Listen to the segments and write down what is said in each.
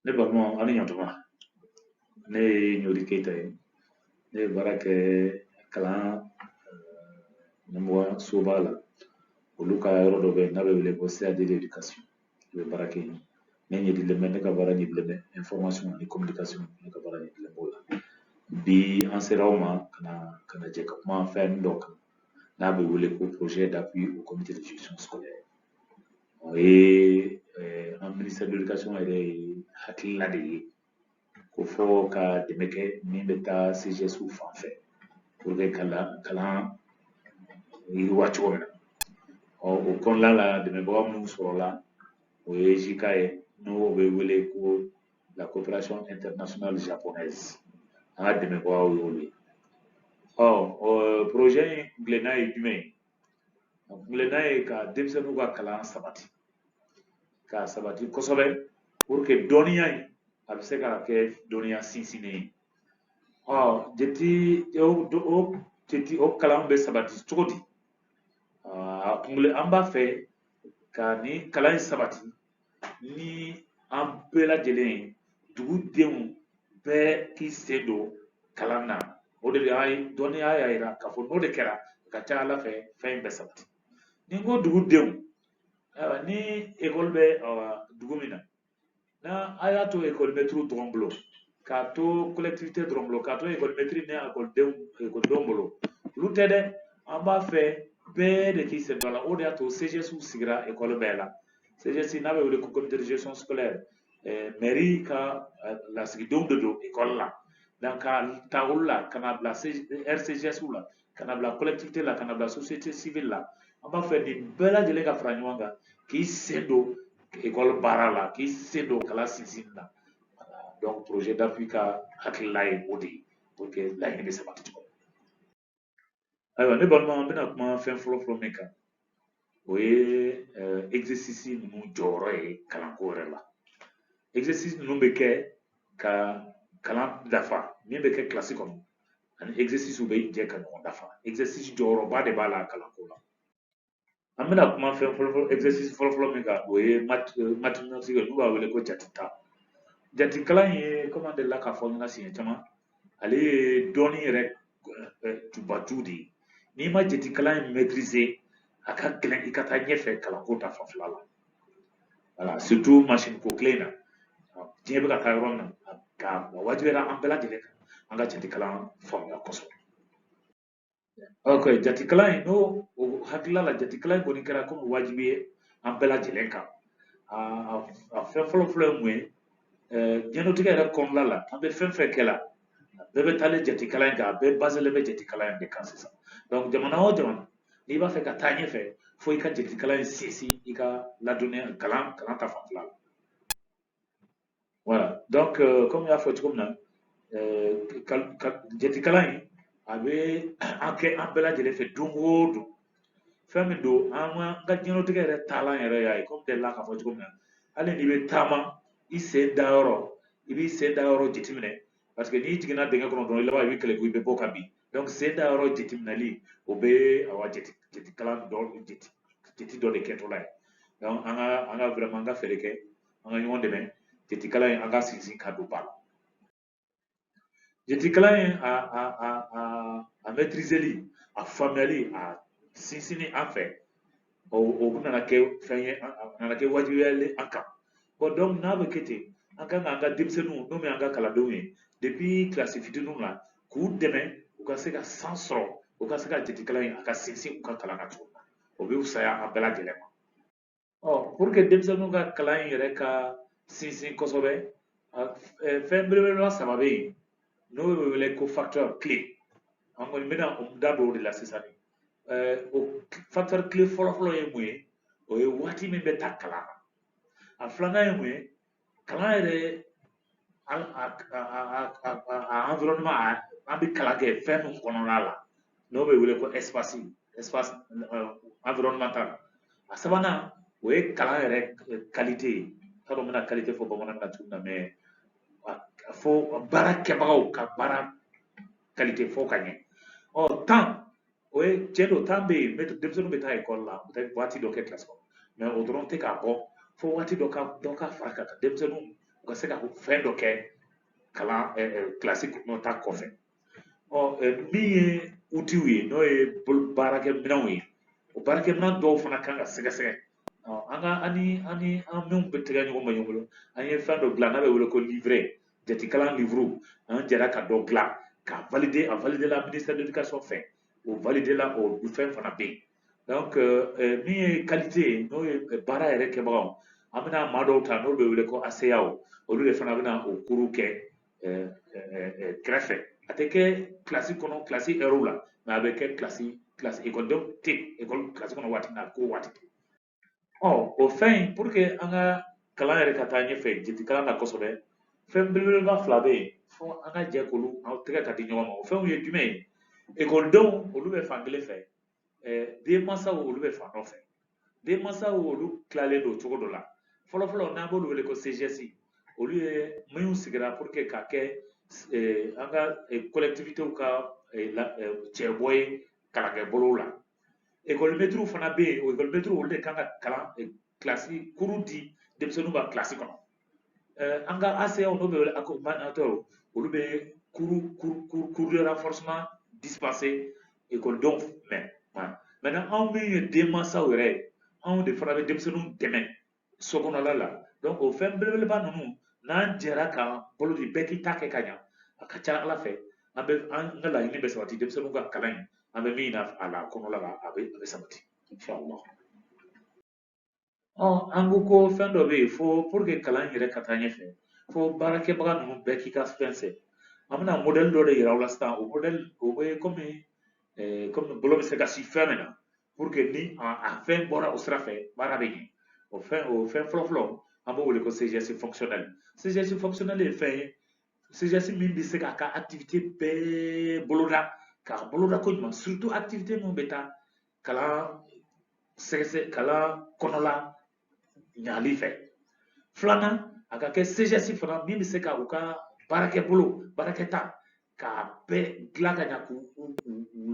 ne balima aw ni ɲantuma ne ye ɲori keyita ye ne ye baara kɛ kalan ɲɛmɔgɔ soba la olu ka yɔrɔ dɔ bɛ yen n'a bɛ wele ko CAD d'éducation n bɛ baara kɛ yen ne ɲɛdilen bɛ ne ka baara ɲɛdilen bɛ information ani communication ne ka baara ɲɛdilen b'o la bi an sera aw ma ka na ka na jɛ ka kuma fɛn dɔ kan n'a bɛ wele ko projet d'appui au comité de gestion scolaire o ye an ministère de l'éducation yɛrɛ ye hakilina de ye ko fɔ ka dɛmɛ kɛ min bɛ taa CGSw fan fɛ pour que ka kalan yiriwa cogo min na ɔ o kɔnɔna la dɛmɛbaga minnu sɔrɔla o ye JICA ye n'o bɛ wele ko la coopération internationale japonaise an ka dɛmɛbagaw y'olu ye ɔ o projet in kuntilenna ye jumɛn ye a kuntilenna ye ka denmisɛnninw ka kalan sabati k'a sabati kosɛbɛ pour que dɔnniya in a bɛ se ka kɛ dɔnniya sinsinnen ye ɔ jeti o jeti o kalan bɛ sabati cogo di a kuntilenna an b'a fɛ ka nin kalan in sabati ni an bɛɛ lajɛlen ye dugudenw bɛɛ k'i sen don kalan na o de y'a ye dɔnniya y'a yira k'a fɔ n'o de kɛra a ka ca a la fɛ fɛn in bɛ sabati ni n ko dugudenw ayiwa ni ekɔli bɛ dugu min na n'a a y'a to ekɔlimɛtiriw dɔrɔn bolo k'a to collectivité dɔrɔn bolo k'a to ekɔlimɛtiri ni ekɔlidenw ekɔlidenw bolo olu tɛ dɛ an b'a fɛ bɛɛ de k'i sen don a la o de y'a to CGSw sigira ekɔli bɛɛ la CGS n'a bɛ wele ko comité de gestion scolaire mɛri ka lasigidenw de don ekɔli la donc ka ta olu la ka na bila RCGSw la ka na bila collectivité la ka na bila société civile la an b'a fɛ nin bɛɛ lajɛlen ka fara ɲɔgɔn kan k'i sen don ekɔli baara la k'i sen don kalan sinsinni na donc projet d'appui ka hakilila ye o de ye pour que laɲini bɛ sabati cogo ayiwa ne balima an bɛna kuma fɛn fɔlɔ fɔlɔ min kan o ye euh, exercice ninnu jɔyɔrɔ ye kalanko yɛrɛ la exercice ninnu bɛ kɛ ka kalan dafa min bɛ kɛ kilasi kɔnɔ ani exercice bɛ jɛ ka ɲɔgɔn dafa exercice jɔyɔrɔba de b'a la kalanko la an bɛna kuma fɛn fɔlɔfɔlɔ exercice fɔlɔfɔlɔ min kan o ye euh, mathématique n'u b'a wele ko jate ta jate kalan ye komi an delila k'a fɔ ɲɛna siɲɛ caman ale ye dɔnni yɛrɛ euh, jubaju de ye n'i ma jate kalan in maîtriser a ka gɛlɛn i ka taa ɲɛfɛ kalanko ta fanfɛla la voilà surtout machine ko kile in na diɲɛ bɛ ka taa yɔrɔ min na a wajibiyara an bɛɛ lajɛlen kan an ka jate kalan faamuya kosɛbɛ ok jatikalan in ne hakilila la jatikalan in kɔni kɛra komi wajibi ye an bɛɛ lajɛlen kan a fɛn fɔlɔ fɔlɔ ye mun ye diɲɛnatigɛ yɛrɛ kɔnɔna la an bɛ fɛn fɛn kɛ la a bɛɛ bɛ taalen jatikalan in kan a bɛɛ baselen bɛ jatikalan in de kan sisan donc jamana o jamana n'i b'a fɛ ka taa ɲɛfɛ fo i ka jatikalan in sinsin i ka ladɔnniya kalan kalan ta fanfɛla la voilà donc euh, comme n y'a fɔ cogo min na euh, jatikalan in a bɛ an kɛ an bɛɛ lajɛlen fɛ don o don fɛn min don an ka diɲɛlatigɛ yɛrɛ taalan yɛrɛ y'a ye komi delila k'a fɔ cogo min na hali n'i bɛ taama i sen da yɔrɔ i b'i sen da yɔrɔ jateminɛ parce que n'i jiginna dingɛ kɔnɔ dɔrɔn i laban i bɛ kɛlɛ ko i bɛ bɔ ka bin donc sen da yɔrɔ jateminɛli o bɛ awa jate jatekalan dɔ jate jate dɔ de kɛtɔla ye donc an ka an ka vraiment an ka fɛɛrɛ kɛ an ka ɲɔgɔn dɛmɛ jatikalan in an ka sinsin ka don ba la jatikalan in a a a a a mɛtirizeli a faamuyali a sinsinni an fɛ o o nana kɛ fɛn ye a nana kɛ wajibiya ye an kan bon donc n'a bɛ kɛ ten an kan k'an ka denmisɛnninw n'o ye an ka kalandenw ye depuis kilasi fitininw na k'u dɛmɛ u ka se ka san sɔrɔ u ka se ka jatikalan in a ka sinsin u ka kalan na cogo min na o bɛ fisaya an bɛɛ lajɛlen ma ɔ pour que denmisɛnninw ka kalan in yɛrɛ ka sinsin kosɛbɛ fɛn belebeleba saba bɛ yen n'o bɛ wele ko facteur clé an kɔni bɛna da don o de la sisan o facteur clé fɔlɔfɔlɔ ye mun ye o ye waati min bɛ ta kalan na a filanan ye mun ye kalan yɛrɛ a a a a environnement a an bɛ kalan kɛ fɛn min kɔnɔna la n'o bɛ wele ko espace espace environnemental a sabanan o ye kalan yɛrɛ qualité ye t'a dɔn n bɛna qualité fɔ bamanankan na cogo min na mais fo baara kɛbagaw ka baara qualité fo o ka ɲɛ ɔ temps o ye tiɲɛ don temps bɛ yen denmisɛnninw bɛ taa ekɔli la u bɛ taa waati dɔ kɛ kilasi kɔnɔ mais o dɔrɔn tɛ k'a bɔ fo waati dɔ ka dɔ ka fara a kan denmisɛnninw u ka se ka fɛn dɔ kɛ kalan kilasi kɔnɔ ta kɔfɛ ɔ min ye utiw ye n'o ye baarakɛminɛnw ye o baarakɛminɛn dɔw fana kan ka sɛgɛsɛgɛ an ka ani ani an minnu bɛ tɛgɛ ɲɔgɔn ma ɲɔgɔn bolo an ye fɛn dɔ dilan n'a bɛ wele ko livret jatikalan livuru an jɛra ka dɔ dilan k'a valide a valide la ministère de l'éducation fɛ o valide la o fɛn fana bɛ yen donc euh, euh, min ye qualité ye n'o ye euh, baara yɛrɛ kɛbagaw an bɛna maa dɔw ta n'olu bɛ wele ko aseyaw olu de fana bɛna o cours kɛ kɛrɛfɛ a tɛ kɛ kilasi kɔnɔ kilasi ɛriw la mais a bɛ kɛ kilasi kilasi ekɔlidenw tɛ ekɔli kilasi kɔnɔ waati min na ko waati tɛ ɔ o fɛn in pour que an ka kalan yɛrɛ ka taa ɲɛfɛ jiidi kalan na kosɛbɛ fɛn belebeleba fila bɛ yen fo an ka jɛ k'olu aw tɛgɛ ka di ɲɔgɔn ma o fɛnw ye jumɛn ye ekɔlidenw olu bɛ fan kelen fɛ denmansaw olu bɛ fan dɔ fɛ denmansaw olu tilalen don cogo dɔ la fɔlɔfɔlɔ n'an b'olu wele ko CGS olu ye minnu sigira pour que ka kɛ an ka collectivitéw ka cɛbɔ ye kalankɛbolow la ekɔlimɛtiriw fana bɛ yen o ekɔlimɛtiriw olu de kan ka kalan kilasi cours di denmisɛnninw ma kilasi kɔnɔ an ka ACAw n'o bɛ wele accompagnateur olu bɛ cours de renforcement dispenser ekɔlidenw ma maintenant anw min ye denmansaw yɛrɛ ye anw de fana bɛ denmisɛnninw dɛmɛ so kɔnɔla la donc o fɛn belebeleba ninnu n'an jɛra k'an bolo di bɛɛ k'i ta kɛ ka ɲa a ka ca ala fɛ an bɛ an ka laɲini bɛ sabati denmisɛnninw ka kalan in an bɛ min na a la kɔnɔla la a bɛ a bɛ sabati inshallah ɔ an ko ko fɛn dɔ bɛ yen fo pour que kalan yɛrɛ ka taa ɲɛfɛ fo baarakɛbaga ninnu bɛɛ k'i ka fɛn sɛ an bɛna modèle dɔ de yira aw la sisan o modèle o bɛ kɔmi kɔmi bolo bɛ se ka sin fɛn min na pour que ni a fɛn bɔra o sira fɛ baara bɛ ɲɛ o fɛn o fɛn fɔlɔ fɔlɔ an b'o wele ko CGS fonctionnel CGS fonctionnel ye fɛn ye CGS min bɛ se k'a ka activité bɛɛ boloda k'a boloda ko ɲuman surtout activité minnu bɛ taa kalan sɛgɛsɛ kalan kɔnɔla ɲali fɛ filanan a ka kɛ CGS fana min bɛ se ka u ka baarakɛ bolo baarakɛta k'a bɛɛ dilan ka ɲa k'u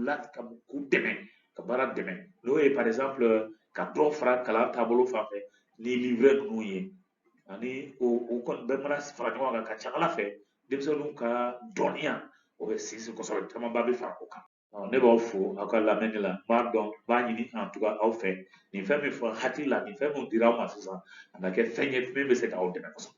la k'u dɛmɛ ka baara dɛmɛ n'o ye par exemple ka dɔ fara kalan taabolo fan fɛ ni livret ninnu ye ani o o kɔni bɛɛ mana fara ɲɔgɔn kan ka ca ala fɛ denmisɛnninw ka dɔnniya o bɛ sinsin kosɛbɛ camanba bɛ fara o kan ne b'aw fo aw ka lamɛnni la n b'a dɔn n b'a ɲini en tout cas aw fɛ nin fɛn min fɔ hakili la nin fɛn min dira aw ma sisan a na kɛ fɛn ye min bɛ se k'aw dɛmɛ kosɛbɛ